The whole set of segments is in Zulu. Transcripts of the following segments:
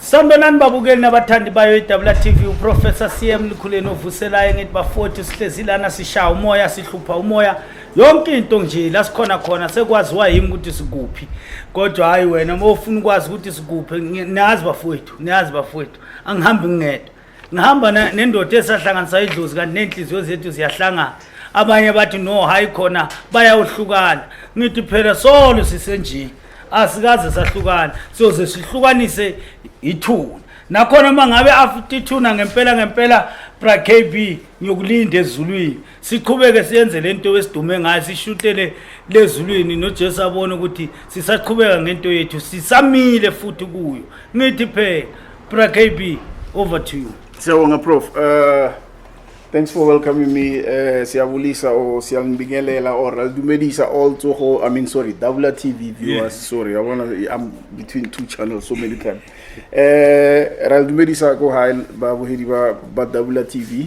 Sanibonani babukeli nabathandi bayo iDabula TV uProfessor CM Likhuleni ovuselayo ngithi bafowethu sihlezi lana sishaya umoya sihlupha umoya yonke into nje la sikhona khona sekwaziwa yimi ukuthi sikuphi kodwa hayi wena uma ufuna ukwazi ukuthi sikuphi nazi bafowethu nazi bafowethu angihambi ngingedwa ngihamba na- nendoda esahlanganisa idlozi kanti ney'nhliziyo zethu ziyahlangana abanye bathi no hhayi khona bayawuhlukana ngithi phela solo sisenjini asikaze sahlukana siyoze sihlukanise ithuna nakhona uma ngabe after ithuna ngempela ngempela brakb ngiyokulinda ezulwini siqhubeke siyenze lento esidume ngayo sishutele lezulwini noJesu abone ukuthi sisaqhubeka ngento yethu sisamile futhi kuyo ngithi phela bra KB over to you siyabonga prof uh thanks for welcoming me uh siyabulisa or siyangibingelela or aldumelisa all tsogo i mean sorry double tv viewers yes. sorry yabona i'm between two channels so many times uh eh, aldumelisa ko high babuhedi ba double tv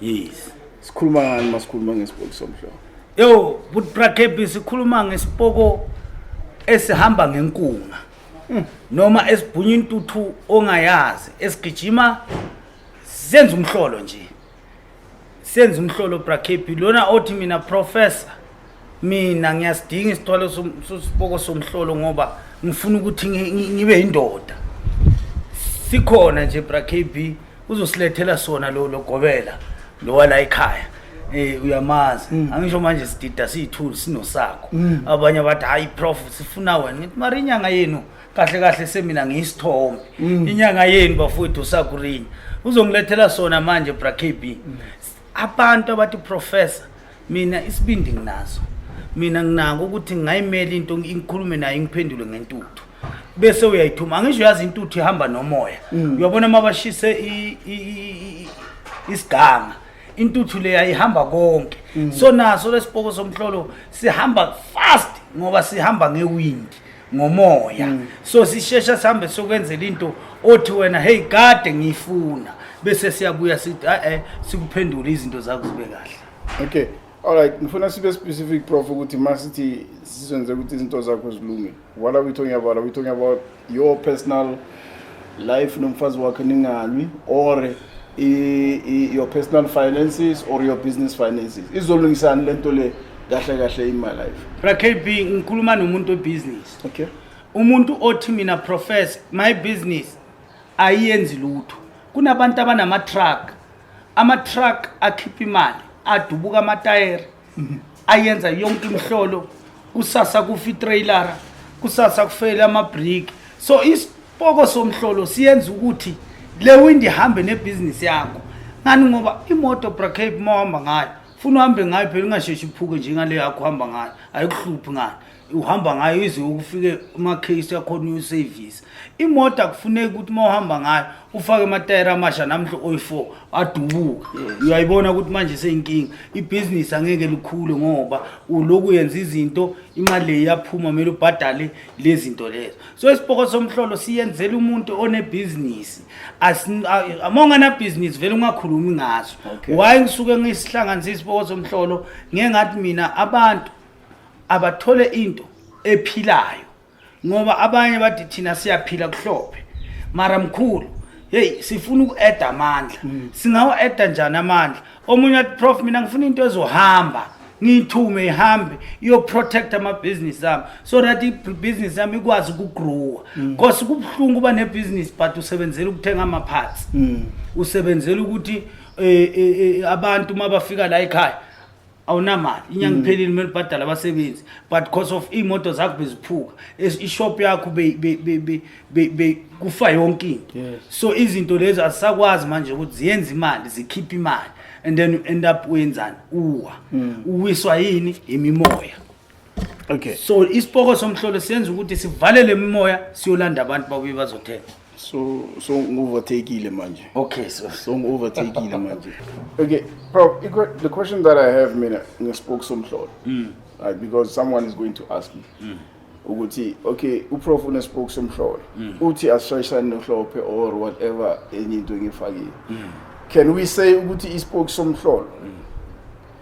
yes sikhuluma ngani masikhuluma ngesipoko somhlolo yo but brakebi sikhuluma ngesipoko esihamba ngenkunga hmm. noma esibhunya intuthu ongayazi esigijima senza umhlolo nje senza umhlolo brakebi lona othi mina professor mina ngiyasidinga isithwalo siboko somhlolo ngoba ngifuna ukuthi ngibe indoda sikhona nje bra KB uzosilethela sona lo logobela lo wala ekhaya eh uyamazi mm. angisho manje sidida siyithuli sinosakho mm. abanye abathi hayi prof sifuna wena ngithi mara inyanga yenu kahle kahle semina ngiyisithombe mm. inyanga yenu bafowethu usakurinya uzongilethela sona manje bra KB abantu abathi professor mina isibindi nginaso mina nginako ukuthi ngingayimela into ngikhulume naye ngiphendule ngentuthu bese uyayithuma angisho yazi intuthu ihamba nomoya mm. uyabona uma bashise isiganga intuthu leya ihamba konke mm. so naso lesipoko somhlolo sihamba fast ngoba sihamba ngewind ngomoya mm. so sishesha sihambe sokwenzela into othi wena hey kade ngiyifuna bese siyabuya sithi a-e sikuphendule izinto zakho zibe kahle okay alright ngifuna sibe specific prof ukuthi ma sithi sizenze ukuthi izinto zakho zilunge what are we talking about are we talking about your personal life nomfazi wakhe ningalwi or your personal finances or your business finances izolungisani le nto le kahle kahle in my life rakb ngikhuluma nomuntu obusiness okay umuntu othi mina profess my business ayiyenzi lutho kunabantu abanama-truck ama-truck akhipha imali adubuka amatayere ayenza yonke imhlolo kusasa kufa itrailara kusasa kufele amabriki so isipoko somhlolo siyenza ukuthi le windi ihambe nebhizinisi yakho ngani ngoba imoto bracape uma uhamba ngayo funa uhambe ngayo phela ungasheshi uphuke njengale yakho uhamba ngayo ayikuhluphi ngani uhamba ngayo ize ukufike ama-case akhona uyosevisa imoto akufuneki ukuthi uma uhamba ngayo ufake amatayera amasha namhla oyi-four adubuka uyayibona ukuthi manje seyinkinga ibhizinisi angeke likhule ngoba uloku yenza izinto imali le iyaphuma kumele ubhadale le zinto lezo so isibhoko somhlolo siyenzela umuntu onebhizinisi uma unganabhizinisi vele ungakhulumi ngaso why ngisuke ngisihlanganisa isibhoko somhlolo ngengathi mina abantu abathole into ephilayo ngoba abanye bathi thina siyaphila kuhlophe mara mkhulu hey sifuna uku-eda amandla mm. singawa-eda njani amandla omunye athi prof mina ngifuna into ezohamba ngiyithume ihambe iyoprotect amabhizinisi ami so that ibhizinisi yami ikwazi ukugrowa because mm. kubuhlungu uba nebhizinisi but usebenzela ukuthenga ama-parts mm. usebenzela ukuthi um abantu uma bafika la ekhaya awunamali inyanga mm. iphelile kumele ubhadale abasebenzi but because of iy'moto zakho beziphuka ishop yakho kufa yonke into so izinto lezi azisakwazi manje ukuthi ziyenza imali zikhiphe imali and then you end up wenzani uwa mm. uwiswa yini yimimoya okay so isipoko somhlolo siyenza ukuthi sivalele imimoya siyolanda abantu babuye bazothenga so so ngu-overtakeile manje okay so so ngu-overtakeile manje okay prof the question that i have mina ngesipoko somhlolo mm. right, because someone is going to ask me mm. ukuthi okay uprof unesipoko somhlolo mm. uthi asishayisane nohlophe or whatever enye into engifakile mm. can we say ukuthi isipoko somhlolo mm.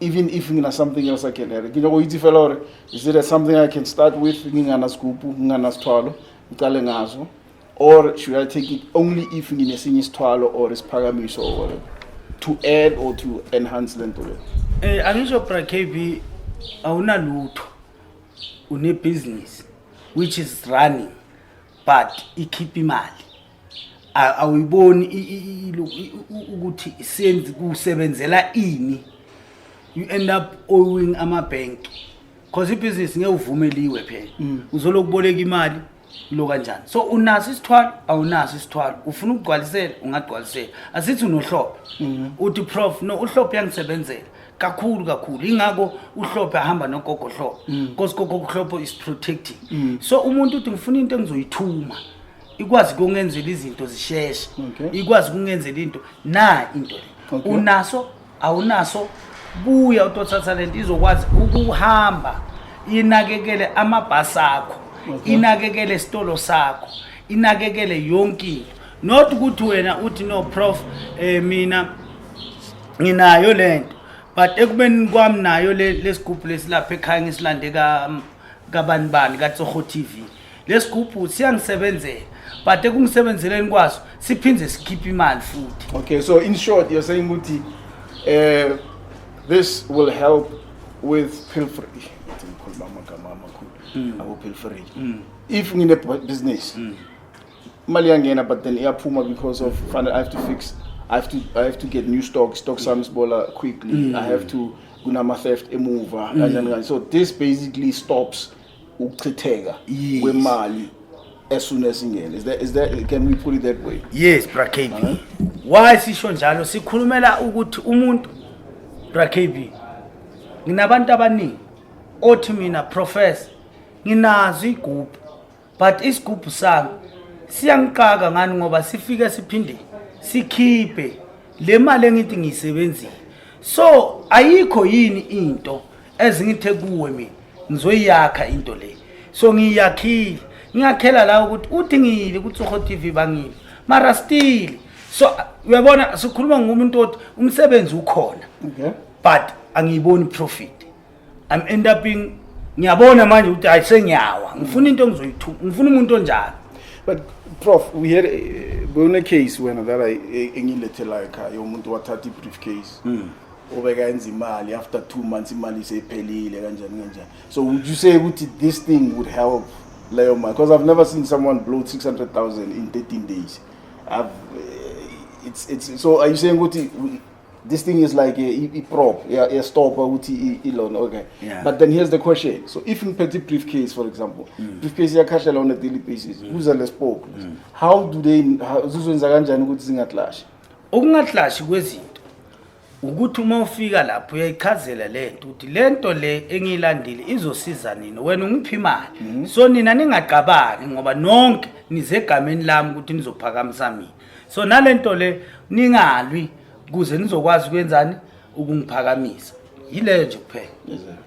even if ngina something else i can add ngina go itse fela gore is it something i can start with ngingana sigupu ngingana sithwalo ngicale ngazo or should i take it only if nginesinye isithwalo or isiphakamiso or whatever to add or to enhance le nto le eh angisho bra kb awunalutho une business which is running but ikhipha imali awuyiboni ukuthi senzi kusebenzela ini you end up owing ama bank because ibusiness ngeke uvumeliwe phela mm. uzoloku boleka imali lo kanjani so unaso isithwalo awunaso isithwalo ufuna ukugcwalisela ungagcwalisela asithi unohlophe mm. uthi prof no uhlophe yangisebenzela kakhulu kakhulu ingakho uhlophe ahamba nogogo hlobo because gogo kuhlophe is protecting so umuntu uthi ngifuna into engizoyithuma ikwazi kungenzela izinto zisheshe Okay. ikwazi kungenzela into na into le Okay. unaso awunaso buya utothatha lento izokwazi ukuhamba inakekele amabhasi akho Okay. inakekele isitolo sakho inakekele yonke into not ukuthi wena uthi no prof eh mina nginayo lento but ekubeni kwami nayo lesigubhu lesilapha ekhaya ngisilande ka kabani bani ka Tsoho TV lesigubhu siyangisebenzela but ekungisebenzeleni kwaso siphinde sikhiphe imali futhi okay so in short you're saying ukuthi eh this will help with pilfering ngikhuluma amagama amakhulu hmm. abo pilfering hmm. if ngine business mm. imali iyangena but then iyaphuma because of fanele i have to fix I have to I have to get new stock stock sami sibola quickly mm. I have to kunama theft emuva mm. kanjani kanjani so this basically stops ukuchitheka yes. kwemali as soon as ingene is that is that can we put it that way yes bra KB uh -huh. why sisho njalo sikhulumela ukuthi umuntu bra KB nginabantu abaningi othi mina professor nginazo igroup but isigubhu sami siyangiqaka ngani ngoba sifike siphinde sikhiphe le mali engithi ngiyisebenzile so ayikho yini into ezingithe kuwe mina ngizoyakha into le so ngiyakhile ngiyakhela la ukuthi udingile ukuthi uho TV bangile mara still so uyabona sikhuluma ngomuntu othi umsebenzi ukhona okay but angiyiboni profit I'm end uping ngiyabona manje ukuthi hayi sengiyawa ngifuna into engizoyithuka ngifuna umuntu onjalo but prof we had eh, bone case wena that i eh, engilethela ekhaya yomuntu wathatha i-briefcase mm. obeka enza imali after 2 months imali isephelile kanjani kanjani so would you say ukuthi this thing would help leyo mali because i've never seen someone blow 600000 in 13 days i've eh, it's it's so are you saying ukuthi this thing is like a, a prop, yeah, a stopper ukuthi ilona okay. Yeah. But then here's the question. So if in petty briefcase for example, mm. briefcase yakhahlelwa on a daily basis, mm. who's the spoke? Mm. How do they zizwenza kanjani ukuthi zingaklashi? Ukungaklashi kwezinto ukuthi uma ufika lapho uyayichazela le nto ukuthi le nto le engiyilandile izosiza nini wena ungiphi imali mm-hmm. so nina ningacabangi ngoba nonke nizegameni lami ukuthi nizophakamisami so nalento le ningalwi kuze nizokwazi kwenzani ukungiphakamisa yile nje kuphela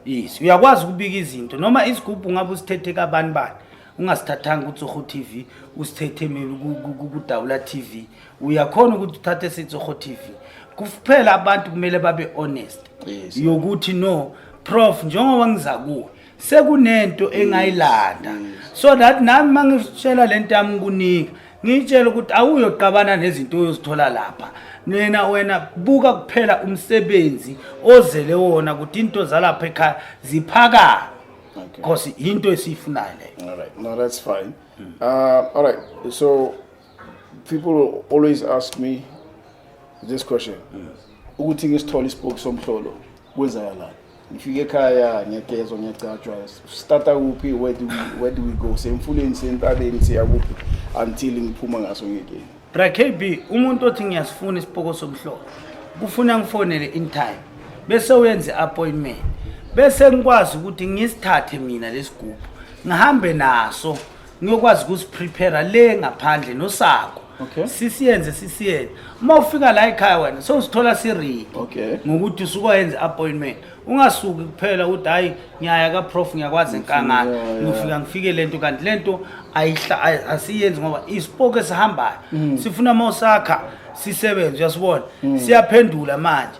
yes uyakwazi ukubika izinto noma isigubhu ngabe usithethe kabani bani ungasithathanga kutsoho TV usithethe mina kudawula TV uyakhona ukuthi uthathe sitsoho TV kuphela abantu kumele babe honest yokuthi no prof njengoba ngiza kuwe sekunento engayilanda mm. so that nami mangitshela lento yami kunika ngitshela ukuthi awuyoqabana nezinto oyozithola lapha nina wena buka kuphela umsebenzi ozele wona ukuthi into zalapha ekhaya ziphakama because into esiyifunayo leyo all right no that's fine mm. uh, all right so People always ask me this question. Ukuthi ngisithole isipoki somhlolo kwenzakalani? Ngifike ekhaya ngiyagezwa ngiyagcatshwa starta kuphi where do we, where do we go? Semfuleni sentabeni siya kuphi until ngiphuma ngaso ngekeni. Bra KB umuntu othi ngiyasifuna isipoko somhlolo kufuna ngifonele in time bese uyenze appointment bese ngikwazi ukuthi ngisithathe mina lesigubhu ngihambe naso ngiyokwazi ukuziprepare le ngaphandle nosako okay. sisiyenze sisiyenze uma ufika la ekhaya wena sowuzithola siridi okay. ngokuthi usukoyenze appointment ungasuki kuphela ukuthi hhayi ngiyaya kaprof ngiyakwazi enkangala ngiyofika ngifike le nto kanti le nto asiyenzi ngoba isipoki esihambayo mm. sifuna uma usakha sisebenze uyasibona mm. siyaphendula manje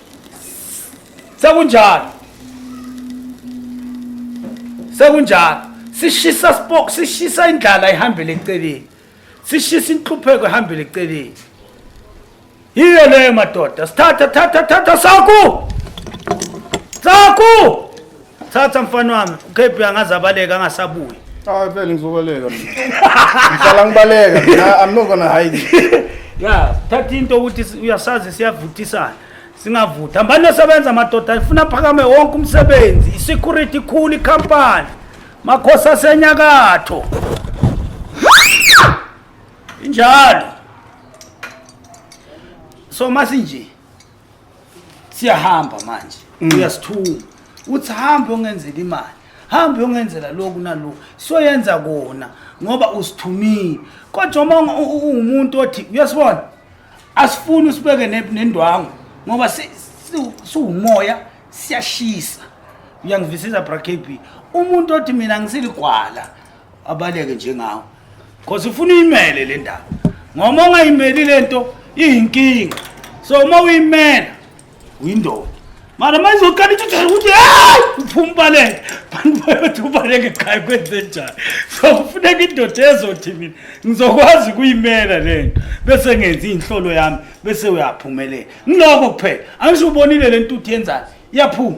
sekunjalo sekunjalo sishisa spok sishisa indlala ihambele eceleni sishisa inhlupheko ihambele eceleni yiyo leyo madoda sithatha thatha thatha saku saku thatha mfana wami ukb angaze abaleka angasabuyi Ah, phela ngizobaleka mina. Ngihlala ngibaleka mina. I'm not gonna hide. it. ya thatha into ukuthi si- uyasazi siyavuthisana singavuthi hambani yosebenza amadoda ifuna phakame wonke umsebenzi i-security ikhulu ikhampani makhosi asenyakatho injalo so masinje siyahamba manje mm. uyasithuma uthi hambe ongenzela imali hambe ongenzela lokhu nalokhu soyenza kona ngoba usithumile kodwa uma ungumuntu othi uyasibona asifuni usibeke nendwangu ngoba siwumoya siyashisa uyangivisiza bra kb umuntu othi mina ngisiligwala abaleke njengawo Cause ufuna uyimele le ndaba. Ngoba ungayimeli lento iyinkinga. So uma uyimela uyindoda. Mara manje uqala ukuthi ukuthi hey uphuma baleke. Bantu bayothi ubaleke ekhaya kwenze njani. So kufuneka indoda ezothi mina ngizokwazi kuyimela lento bese ngenzi inhlolo yami bese uyaphumelela. Ngiloko kuphela. Angisho ubonile lento uthi yenzani? Iyaphuma.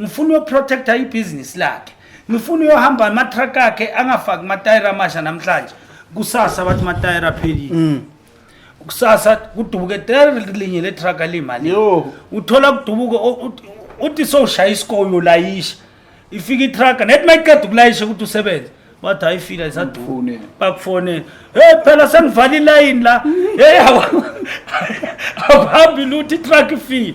ngifuna uyoprotecta ibhizinisi lakhe ngifuna uyohamba amatruck akhe angafaki matayira amasha namhlanje kusasa bathi matayira aphelile mm. kusasa kudubuke tayira linye letruck alimali uthola kudubuke uthi sowushaya isikole ulayisha ifika itruck nethi mayiqeda ukulayisha ukuthi usebenze bathi hayi fika isaduni bakufonela hey phela sengivale ilayini la hey awuhambi luthi itruck ifile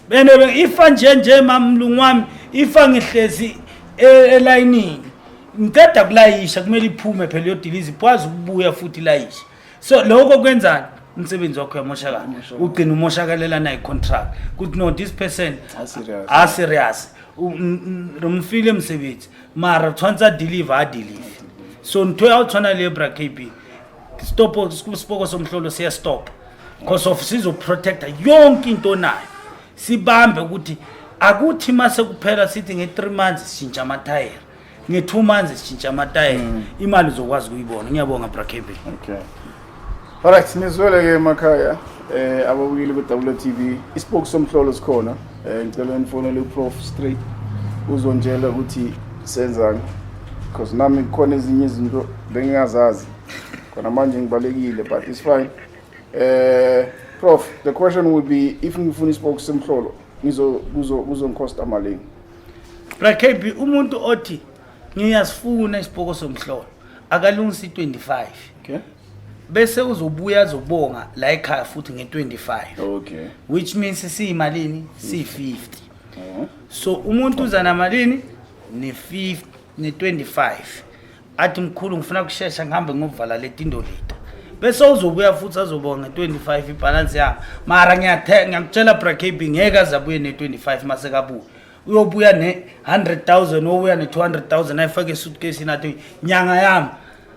bene ifa nje nje mamlungu wami ifa ngihlezi e, elayinini ngiceda kulayisha kumele iphume phela yodiliza ikwazi ukubuya futhi ilayisha so lokho kwenzani umsebenzi wakho uyamoshakala ugcina umoshakalela naye contract kuthi no this person a serious romfile msebenzi mara tshwanetse a deliver a deliver so ntho ya go tshwana le ebra kb stop isiboko somhlolo siya stop because of sizo protector yonke into onayo sibambe ukuthi akuthi mase kuphela sithi nge 3 months sishintsha ama tire nge 2 months sishintsha ama tire mm. imali uzokwazi kuyibona ngiyabonga bra Kevin okay all right nizwele ke emakhaya eh ababukile ku WTV isiboko somhlolo sikhona Eh ngicela nifonele uProf straight uzongitshela ukuthi senzani because nami kukhona ezinye izinto bengingazazi khona manje ngibalekile but it's fine eh prof the question would be if ngifuna isiboko semhlolo ngizo kuzo kuzongikosta malini bra kb umuntu othi ngiyasifuna isiboko somhlolo akalungisa i-25 okay bese uzobuya azobonga la ekhaya futhi nge-25 okay which means siyimalini siyi-50 uh-huh. so umuntu uza namalini ne-50 ne-25 athi mkhulu ngifuna ukushesha ngihambe ngovala leti ndolita bese uzobuya futhi azobonga nge-25 ibhalansi yami mara ngiyakutshela brakb ngeke azabuye ne-25 masekabuye uyobuya ne-hundred thousand obuya ne-two hundred thousand ayifake esuitcase inathi nyanga yami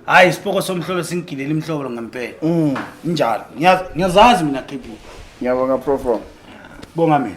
hhayi isipoko somhlolo singigilele imhlolo ngempela Mm. injalo Ngiyaz- ngiyazazi mina kb Ngiyabonga Prof. bonga mina